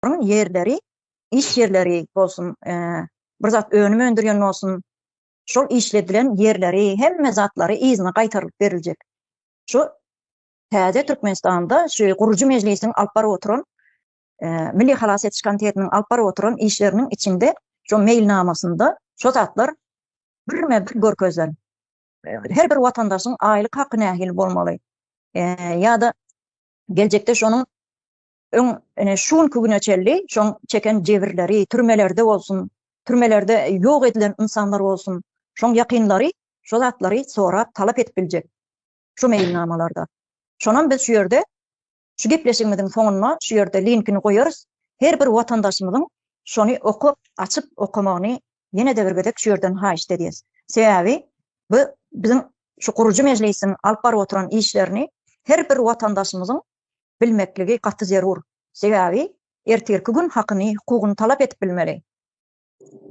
adamlaryň ýerleri, iş ýerleri bolsun, bir zat önüm öndürýän bolsun, şol işledilen ýerleri, hemme zatlary yzyna gaýtarylyp beriljek. Şu täze Türkmenistanda şu gurujy mejlisiň alyp baryp oturan Milli halas ediş komitetiniň alyp baryp oturan işleriniň içinde şu meýilnamasynda şu zatlar birme-bir görkezilen. Her bir watandaşyň aýlyk haky nähili bolmaly? Ýa-da geljekde şonuň Öň, ine, şu günki güne çenli şoň çeken jebirleri, türmelerde bolsun, türmelerde ýok edilen ynsanlar bolsun, şoň ýakynlary şo zatlary sorap, talap edip biljek şu meýilnamalarda. Şonam biz şu ýerde şu gepleşigimiziň soňunda şu ýerde linkini goýarys, her bir watandaşymyzyň şony okap, açyp okamagyny ýene-de bir gezek şu ýerden haýyşt edýäs. Sebäbi bu biziň şu gurujy mejlisiň alyp baryp oturan işlerini her bir watandaşymyzyň bilmekligi gaty zerur. Sebäbi ertirki gün hakyny, hukugyny talap edip bilmeli.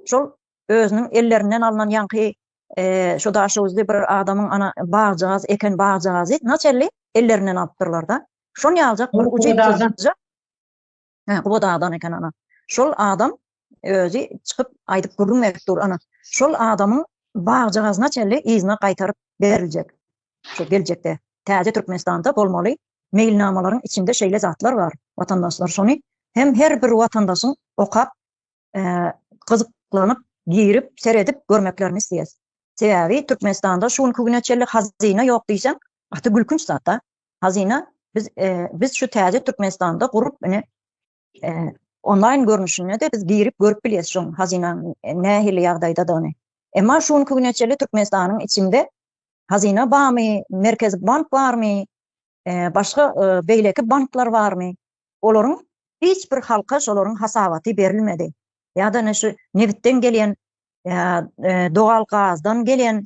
Şol özüniň ellerinden alnan ýaňky şu daşöwüzli bir adamyň ana bagjagaz eken bagjagazy naçe elli ellerinden alypdyrlar-da. Şon ýaljak bir ujypsyzja. Hä, Gubat adam eken ana. Şol adam özi çykyp aýdyp gürrüň berip dur ana. Şol adamyň bagjagazyna çenli yzyna gaýtaryp beriljek. Şu geljekde täze Türkmenistanda bolmaly meýilnamalaryň içinde şeýle zatlar bar. Watandaşlar şony hem her bir watandaşyň okap, gyzyklanyp, girip, seredip görmeklerini isleýäs. Sebäbi Türkmenistanda şu günki güne çenli hazyna ýok diýseň, gaty gülkünç zat-da. Hazyna biz biz şu täze Türkmenistanda gurup ine onlaýn görnüşinde de biz girip görüp bilýäs şu hazyna nähili ýagdaýdadygyny. Emma şu günki güne çenli Türkmenistanyň içinde hazyna barmy, merkezi bank barmy, başga beýleki banklar barmy? Olaryň hiç bir halka şolaryň hasabaty berilmedi. Ýa-da şu nebitden gelýän dogal gazdan gelýän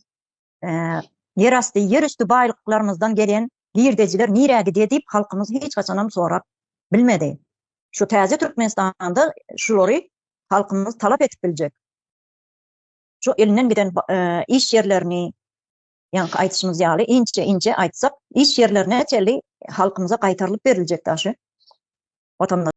ýer asty, ýer üsti baýlyklarymyzdan gelen girdejiler nirä gidýär diýip, halkymyz hiç haçanam sorap bilmedi. Şu täze Türkmenistanda şulary halkymyz talap edip biljek. Şu elinden giden iş ýerlerini, ýaňky aýdyşymyz ýaly, inçe-inçe aýtsak, iş ýerlerine çenli halkymyza gaýtarylyp beriljek daşy. Watan.